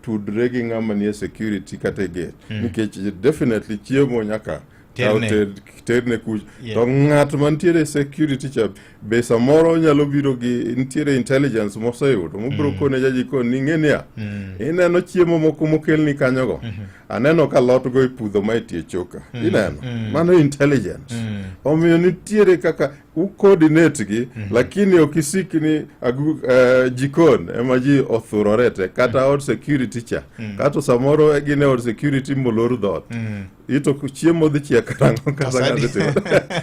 tudre gi ng'ama nie security kata e gate mm. nikech definitely chiemo nyaka terne kuch yeah. to ng'at mantiere security cha be samoro nyalo biro gi nitiere intelligence moseyudo mobiro mm. kone jajikon ni ng'e niya mm. ineno chiemo moko mokelni kanyogo mm -hmm. aneno ka lotgo ipudho ma itie choka mm. ineno mm. mano intelligence mm. omiyo nitiere kaka ukodinetgi mm -hmm. lakini okisikni agu, uh, eh, jikon ema ji othurorete kata mm. od security cha mm -hmm. kato samoro gine od security molor dhot mm -hmm. ito chiemo dhi chia karango kasangatimo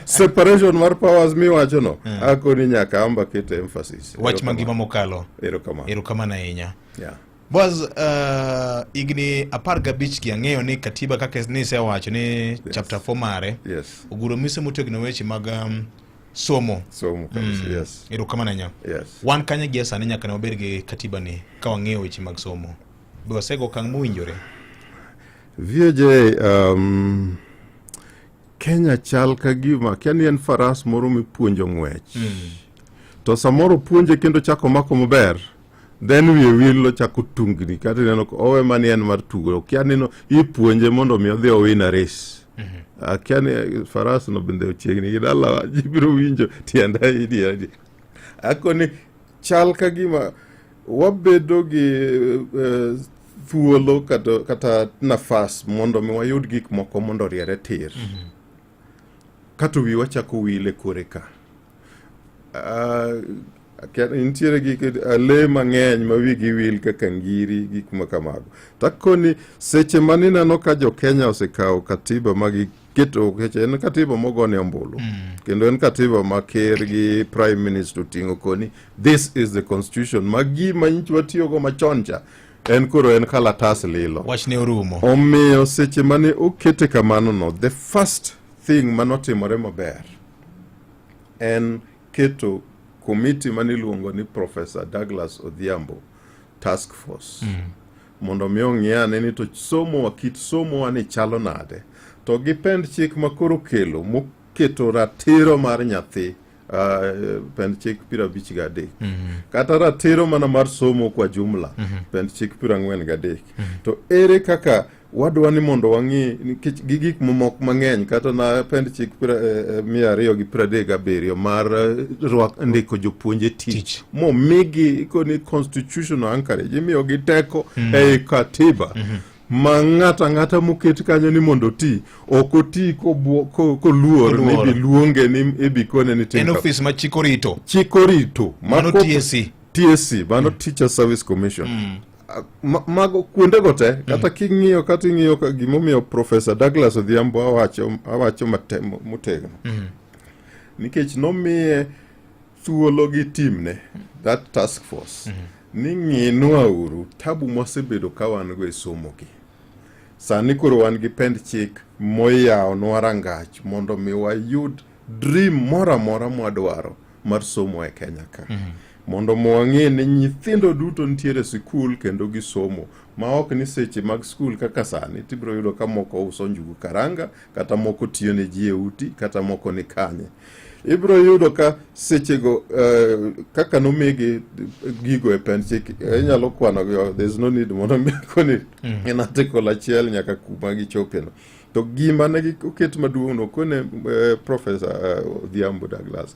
separation mar powers miwacho no mm -hmm. akoni nyaka amba kete emphasis wach mangima mokalo erokamano erokamano ahinya yeah. Boaz, uh, higni apar gabich gi ang'eyo ni katiba kaka nisewacho ni yes. chapter 4 mare yes. oguro mise motegno weche mag um, somo somo kabisa mm. yes. erokamano nya yes. wan kanye gi sani nyaka ne wabed gi katiba ni ka wang'eyo weche mag somo be wasego okang' mowinjore VJ um, Kenya chal ka gima kia ni en faras moro mipuonjo ng'wech mm. to samoro puonje kendo chako mako maber then wiye wil ochako tungni kata ineno owe mani en mar tugo okia nino ipuonje mondo omi odhi owin ares mhm. akia ni eh, faras no bende ochiegni gi dalawa ji biro winjo tienda idiadi ako ni chal ka gima wabedo gi eh, thuolo kata, kata nafas mondo mi wayud gik moko mondo oriere tir mm -hmm. kato wiwa chako wile kore ka Uh, nitiere gik eh, le mang'eny ma wigi wil kaka ngiri gik ma kamago takoni seche ma nineno ka jo kenya osekawo katiba ma giketo keche en katiba mogone ombulu mm. kendo en katiba ma ker gi prime minister oting'o koni this is the constitution ma gima nyicha watiyogo machon cha en koro en kalatas lilo wachne orumo omiyo seche mane okete kamano no the first thing manotimore maber en keto komiti mane iluongo ni Professor Douglas Odhiambo task force mm. mondo mi ong'i ane ni to somo kit somo ni chalo nade to gi pend chik ma koro kelo moketo ratiro mar nyathi Uh, pend chik piero abich ga adek mm -hmm. kata ratiro mana mar somo kwa jumla mm -hmm. pend chik piero ang'wen ga adek mm -hmm. to ere kaka wadwa ni mondo wang'i nikech gi gik mamoko mang'eny kata na pend chik pra- eh, eh, mia ariyo gi piero adek gabiriyo mar eh, rwak ndiko jopuonje tich Tich. momigi koni constitutional anchorage imiyogi teko ei katiba ma ng'ato ang'ata moket kanyo ni mondo oti ok oti kobwo- ko- koluor ni Koluor. biluonge ni ibikone ni en tinka ofis ma chik orito chik orito ma Mano kok- TSC. TSC mano Teacher Service Commission mago kuondego te mm. kata king'iyo kata ing'iyo gimomiyo profesa douglas odhiambo awacho, awacho motegno mm. nikech nomiye thuolo gi timne that task force mm. ni ng'inwa uru tabu mwasebedo ka wan go e somogi sani koro wan gi pend chik moyawonwa rangach mondo mi wayud dream moro amora mwadwaro mar somo e Kenya ka mm -hmm. mondo mwang'e ni nyithindo duto nitiere sikul kendo gisomo ma ok ni seche mag skul kaka sani tibiro yudo ka moko uso njugu karanga kata moko tiyo ne ji e uti kata moko ni kanye ibiro yudo ka sechego uh, kaka nomigi gigo e penchik inyalo kwanogi oh, there's no need mondo mikoni mm. in article achiel nyaka kuma gichopeno To gima ne oket maduong' no kone eh, Professor eh, Odhiambo Douglas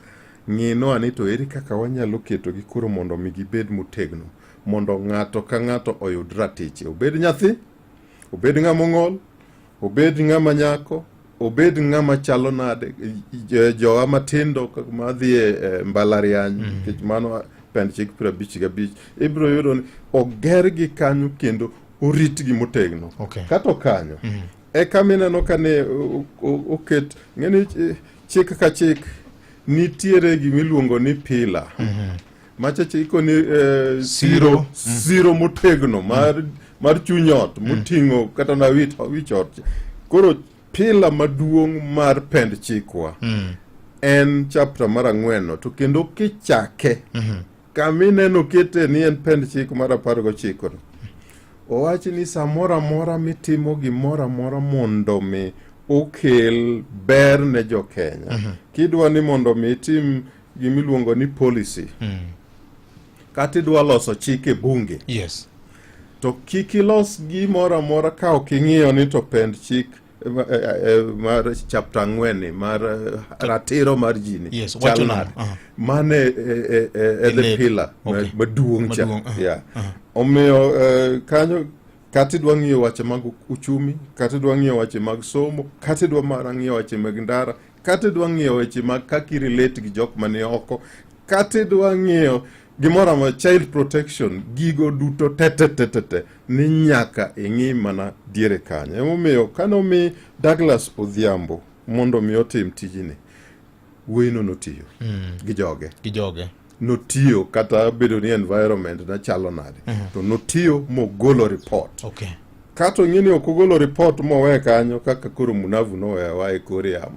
ng'ino ani to eri kaka wanyalo keto gi koro mondo mi gibed motegno mondo ng'ato ka ng'ato oyud ratiche obed nyathi obed ng'ama ong'ol obed ng'ama nyako obed ng'ama chalo nade eh, jowa matindo madhi e eh, mbalariany mm. nikech mm. mano pend chik piero abich gabich ibiro yudo ni ogergi kanyo kendo oritgi motegno okay. kata okanyo mm -hmm. eka mineno ka ne oket ng'eni chik ka chik nitiere gimiluongo ni pila mm -hmm. machache ikoni eh, siro mm -hmm. siro motegno mar, mm -hmm. mar chuny ot mhm. moting'o mm -hmm. kata na wich, wich ot koro pila maduong' mar pend chikwa mm -hmm. en chapta mar ang'wenno to kendo kichake mm -hmm. Kama ineno kete ni en pend chik mar apar gochiko owachi ni samoro amora mitimo gimoro amora mondo mi okel ber ne jo Kenya mm -hmm. kidwa ni mondo mi itim gimiluongo ni policy mm. kata idwa loso chik e bunge yes. to kik ilos gimoro amora ka ok ing'iyo ni to pend chik Ma- eh, eh, mar chapta ang'wenni mar eh, ratiro mar ji ni Yes, chal wacho nade? nade? Aha. mane eh, eh, eh, eh, the Elego. pillar ma- Okay. maduong' cha Maduong', aha, Yeah. omiyo eh, kanyo kata idwa ng'iyo wache mag uchumi kata idwa ng'iyo wache mag somo kata idwa mana ng'iyo wache mag ndara kata idwa ng'iyo weche mag kaka irelate gi jok mani oko kata idwa ng'iyo Gimoro amora child protection gigo duto tetetetete ni nyaka ing'i mana diere kanyo. Emomiyo kane omi Douglas Odhiambo mondo mi otim tijini, wuoyino notiyo mm. gi joge. Gi joge. notiyo kata bedo ni environment ne chalo nade mm -hmm. to notiyo mogolo report okay. kato ng'e ni ok ogolo report mowe kanyo kaka koro munavu nowewa e kor yamo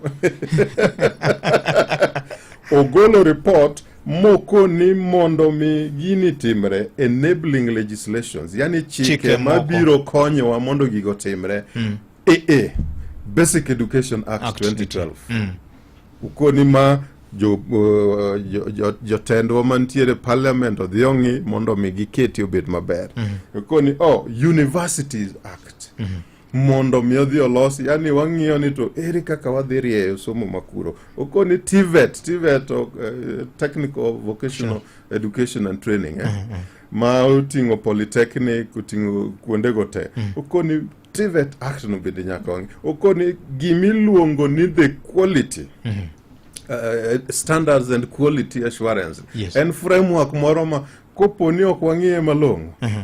ogolo report moko ni mondo mi gini timre enabling legislations yani chike, chike mabiro konyowa mondo gigo timre mm. ee eh. basic education act, act 2012 mm. ukoni ma jotendwa uh, jo, jo mantiere parliament odhi ong'i mondo mi giketi obed maber mm -hmm. ukoni oh, universities act mm -hmm. mondo mi odhi olos yani wang'iyo ni to ere kaka wadhi rieyo somo makuro okoni tivet tivet uh, eh, technical vocational sure. education and training eh? mm -hmm. ma oting'o polytechnic oting'o kuondego te mm -hmm. okoni tivet act no bende nyaka wang'i okoni gimiluongo ni the quality mm -hmm. Uh, standards and quality assurance yes. en framework moro ma koponi ok wang'iye malong'o uh mhm. -huh.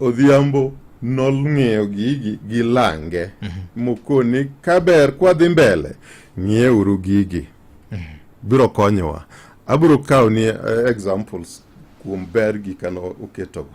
Odhiambo nolng'eyo gigi gi lange mhm. mokoni kaber kwadhi mbele ng'ieuru gigi mhm. biro konyowa abiro kawo ni eh, examples kuom ber gikano oketogo